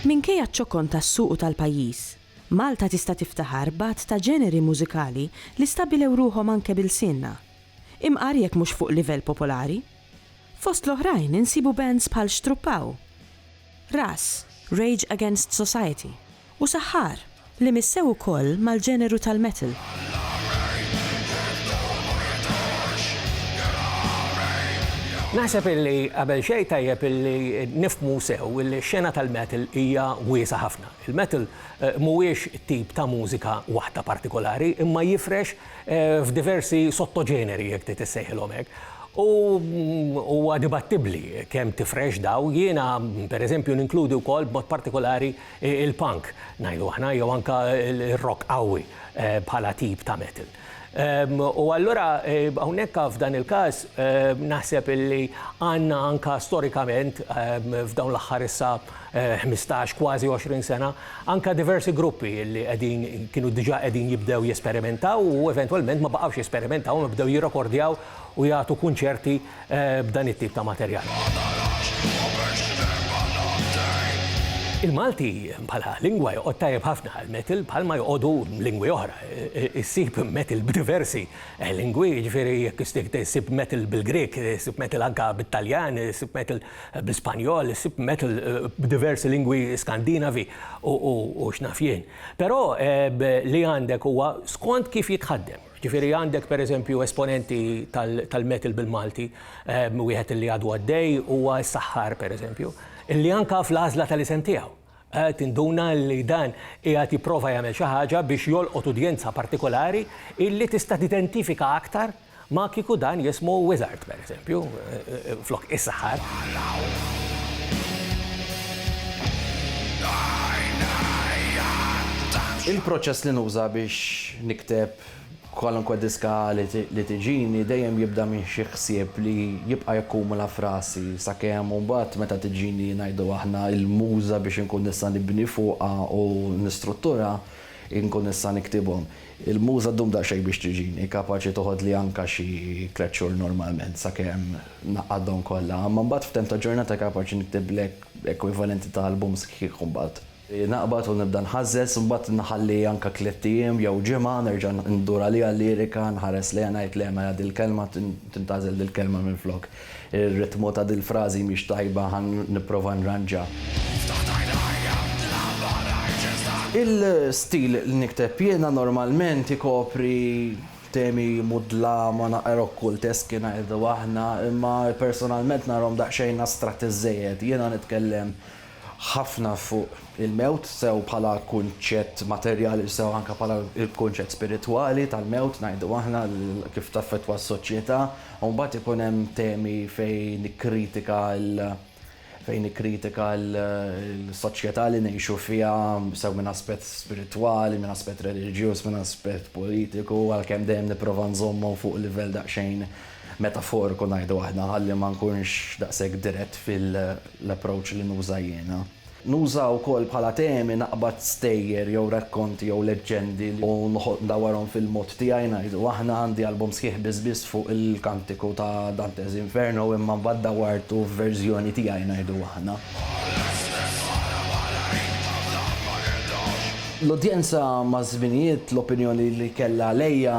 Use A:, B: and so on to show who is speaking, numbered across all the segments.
A: Minkejja ċ-ċokon tas-suq u tal-pajjiż, Malta tista' tiftaħar b'għadd ta' ġeneri mużikali li stabbilew ruħhom anke b'ilsienna, imqar jekk mhux fuq livell popolari. Fost l-oħrajn insibu bands bħal Xtruppaw! Ras, Rage Against Society, u Sahar, li missew ukoll mal-ġeneru tal-metal.
B: Naħseb illi qabel xejn tajjeb illi nifhmu sew illi x-xena tal-metal hija wiesgħa ħafna. Il-metal mhuwiex tip ta' mużika waħda partikolari imma jifrex f'diversi sottoġeneri, jekk trid issejħilhom hekk, u huwa dibattibbli kemm tifrex daw, jiena, pereżempju, ninkludi wkoll b'mod partikolari l-punk, ngħidu aħna, jew anke r-rock qawwi bħala tip ta' metal. U allura hawnhekk f'dan il-każ naħseb illi għandna anke storikament f'dawn l-aħħar issa ħmistax, kważi għoxrin sena, anke diversi gruppi li qegħdin kienu diġà qegħdin jibdew jesperimentaw u eventwalment ma baqgħux jesperimentaw imma bdew jirrekordjaw u jagħtu kunċerti b'dan it-tip ta' materjal. Il-Malti bħala lingwa joqgħod tajjeb ħafna għall-metal bħalma joqogħdu lingwi oħra. Issib metal b'diversi lingwi, jiġifieri jekk issib metal bil-Grieg, issib metal anke bit-Taljan, issib metal bl-Ispanjol, issib metal b'diversi lingwi Skandinavi u x'naf jien. Però li għandek huwa skont kif jitħaddem. Ġifieri għandek pereżempju esponenti tal-metal bil-Malti, wieħed li għadu għaddej huwa s-Saħħar pereżempju, li anke fl-għażla tal-isem tiegħu. Qed induna li dan qiegħed jipprova jagħmel xi ħaġa biex jolqot udjenza partikolari illi tista' tidentifika aktar ma kieku dan jismu Wizard, pereżempju, flok is-saħħar.
C: Il-proċess li nuża biex nikteb Kwalunkwe diska li tiġini dejjem jibda minn xi ħsieb li jibqa' jakkumula f'rasi sakemm mbagħad meta tiġini ngħidu aħna il-muża biex inkun nista' nibni fuqha u nistruttura nkun nista' niktibhom. Il-muża ddum daqsxejn biex tiġini, kapaċi toħodli anke xi tliet xhur normalment sakemm ngħaqqadhom kollha, imma mbagħad f'temp ta' ġurnata kapaċi niktiblek ekwivalenti ta' album sħiħ mbagħad. Naqbad u nibda nħażżeż, imbagħad nħalli anke tliet ijiem jew ġimgħa, nerġa' ndur għaliha l-lirika, nħares lejha ngħid le mela dil-kelma tintgħażel dil-kelma minflok. Ir-ritmu ta' dil-frażi mhix tajba ħa nipprova nranġa. Il-stil li nikteb jiena normalment ikopri temi mudlama naqra okkulteski ngħidu aħna, imma personalment narahom daqsxejn astratti żżejjed. Jiena nitkellem ħafna fuq il-mewt sew bħala kunċett materjali u sew anke bħala l-kunċett spiritwali tal-mewt ngħidu aħna kif taffettwa s-soċjetà u mbagħad ikun hemm temi fejn nikkritika fejn nikkritika l-soċjetà li ngħixu fiha sew minn aspett spiritwali, minn aspett reliġjuż, minn aspett politiku għalkemm dejjem nipprova nżommhom fuq livell daqsxejn metaforiku ngħidu aħna ħalli ma nkunx daqshekk dirett fil-approach li nuża jiena. Nuża wkoll bħala temi naqbad stejjer jew rakkonti jew leġġendi u noħolq ndawarhom fil-mod tiegħi ngħidu aħna. Għandi album sħiħ biss biss fuq il-kantiku ta' Dante's Inferno imma mbagħad dawartu f'verżjoni tiegħi ngħidu aħna. L-udjenza maż-żminijiet l-opinjoni li kellha għalija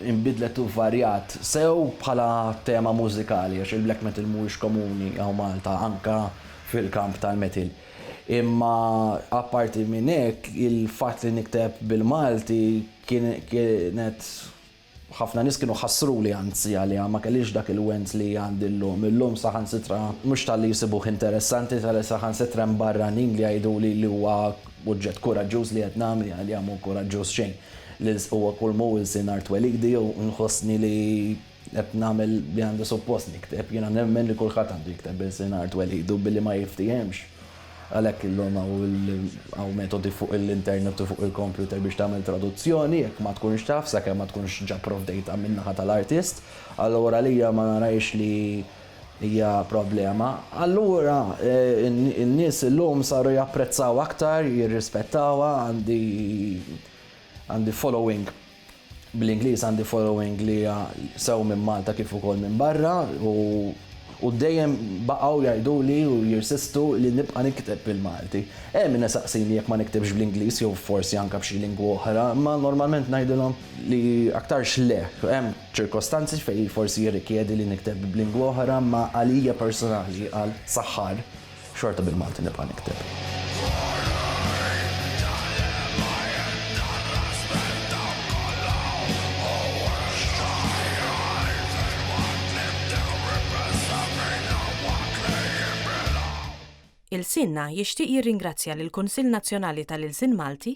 C: inbidlet u varjat. sew bħala tema mużikali għax il-black metal mhuwiex komuni hawn Malta anke fil-kamp tal-metal. Imma apparti minn hekk il-fatt li nikteb bil-Malti kien kienet ħafna nies kienu ħassruli anzi għaliha ma kellhiex dak il-wens li għandi llum. Illum saħansitra mhux talli jsibuh interessanti talli saħansitra hemm barranin li jgħiduli li huwa Oġġett kuraġġuż li qed nagħmel jien għalija mhu kuraġġuż xejn. L-ilsq huwa kull m'hu ilsien art twelidi u nħossni li qed nagħmel li għandi suppost nikteb. Jiena nemmen li kulħadd għandu jikteb b'ilsien art twelidu billi ma jiftiehemx. Għalhekk illum hawn metodi fuq l-internet u fuq il-kompjuter biex tagħmel traduzzjoni jekk ma tkunx taf sakemm ma tkunx ġa provdejtha min-naħa tal-artist. Allura għalija ma narajx li hija problema, allura n-nies illum saru japprezzaw aktar, jirrispettawha, għandi għandi following bl-Ingliż għandi following li hija sew minn Malta kif ukoll minn barra u u dejjem baqgħu jgħiduli u jirsistu li nibqa' nikteb bil-Malti. Hemm min isaqsini jekk ma niktibx bl-Ingliż jew forsi anke b'xi lingwa oħra, imma normalment ngħidilhom li aktarx le. Hemm Ċirkostanzi fejn forsi jirrikjedi li nikteb b'lingwa oħra imma għalija personali, qal Sahar, xorta bil-Malti nibqa' nikteb.
A: Ilsienna jixtieq jirringrazzja lill-Kunsill Nazzjonali tal-Ilsien Malti,